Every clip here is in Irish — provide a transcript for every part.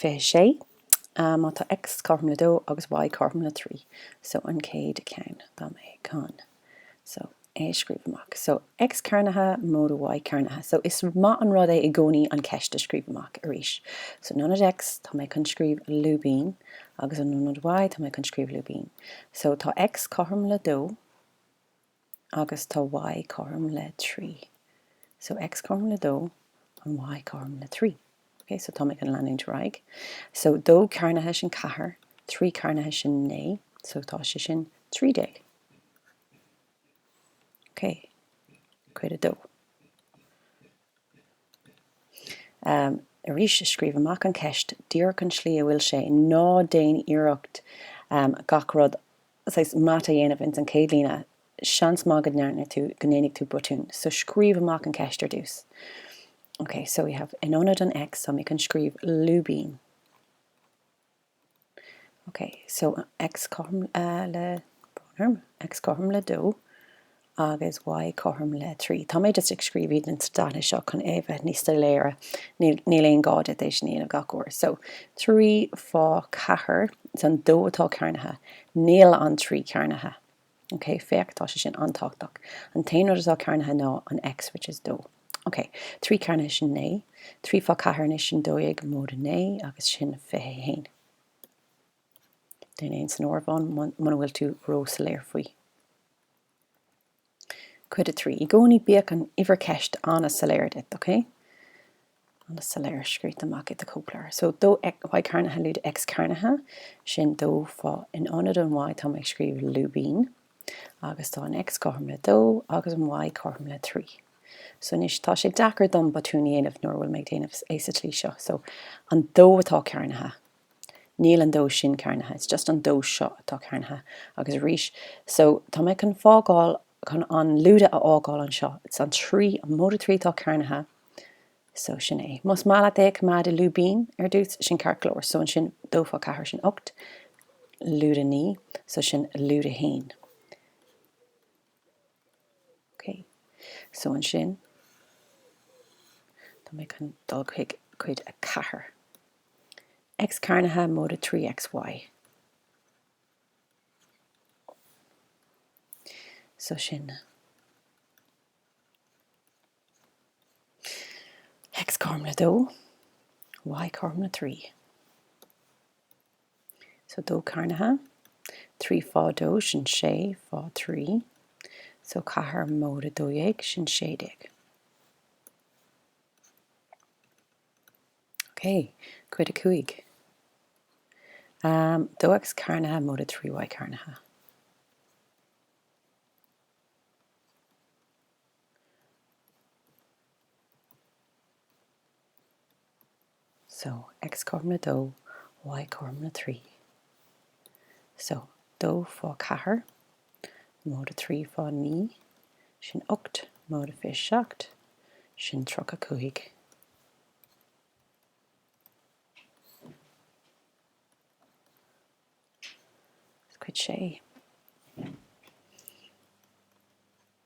26, má tá X cothrom le 2 agus Y cothrom le 3 so an chéad cheann tá mé chun so é a scríobh amach so X cearnaithe móide Y cearnaithe so is maith an rud é i gcónaí an cheist a scríobh amach arís so in ionad X tá mé chun scríobh lúibín agus in ionad Y tá mé chun scríobh lúibín so tá X cothrom le 2 agus tá y cothrom le trí. So x cothrom le dó and y cothrom le trí. Ok, so táimid chun leanúint ar aghaidh. So dó cearnaithe sin ceathair, trí cearnaithe sin naoi, so tá sé sin trí déag. Ok, cuid a dó. arís, scríobh amach an cheist díreach an tslí a bhfuil sé, ná déan iarracht gach rud saghas mata a dhéanamh ins an chéad líne, seans maith go ndearna tú, go ndéanfaidh tú botún, so scríobh amach an cheist ar dtús. Ok, so we have in ionad an X, so tá mé chun scríobh lúibín. OK, so X cothrom le, brón orm, X cothrom le dó agus Y cothrom le trí. Tá mé just ag scríobh iad ins na dathanna seo chun é a bheith níos soiléire, níl aon gá duit é sin a dhéanamh gach uair. So, trí fá ceathair, it's an dó atá cearnaithe, níl an trí cearnaithe. OK, féach, tá sé sin an-tábhachtach. An t-aon rud atá cearnaithe ná an X, which is dó. OK, trí cearnaithe sin naoi, trí fá ceathair anois sin dó dhéag, móide naoi, agus sin fiche a haon. Déan é san áireamhán muna bhfuil tú ró-soiléir faoi. Cuid a trí. I gcónaí bíodh an uimhir ceist an-soiléir duit, OK? An-soiléir scríofa amach i do chóipleabhar. So, dó y cearnaithe lúide X cearnaithe, sin dó fá, in ionad an y tá mé ag scríobh lúibín, agus tá an X cothrom le dó agus an Y cothrom le trí. So, anois tá sé deacair dom botún a dhéanamh nuair a bhfuil mé ag déanamh é sa tslí seo. So, an dó atá cearnaithe. Níl an dó sin cearnaithe. It's just an dó seo atá cearnaithe. Agus arís, so, tá mé chun fágáil, chun an lúide a fhágáil anseo. It's an trí, an móide trí atá cearnaithe. So, sin é. Más maith leat é a choimeád i lúibín ar dtús, sin ceart go leor. So, ansin, dó fá cheathair, sin ocht. Lúide naoi. So, sin lúide a haon. Ok. So, ansin, tá mé chun dul chuig cuid a ceathair. X cearnaithe móide trí XY. So, sin. X cothrom le dó, Y cothrom le trí. So dó cearnaithe, trí fá dó sin sé fá trí, so ceathair móide dó dhéag sin sé déag. Ok, cuid a cúig. Dó X cearnaithe móide trí Y cearnaithe. So, X cothrom le dó, Y cothrom le trí. So, dó fá ceathair, móide trí fá naoi, sin ocht, móide fiche seacht, sin tríocha cúig. Cuid a sé.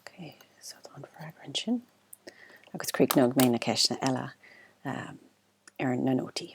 Ok, so tá an freagra ansin. Agus críochnóidh mé na ceisteanna eile ar na nótaí.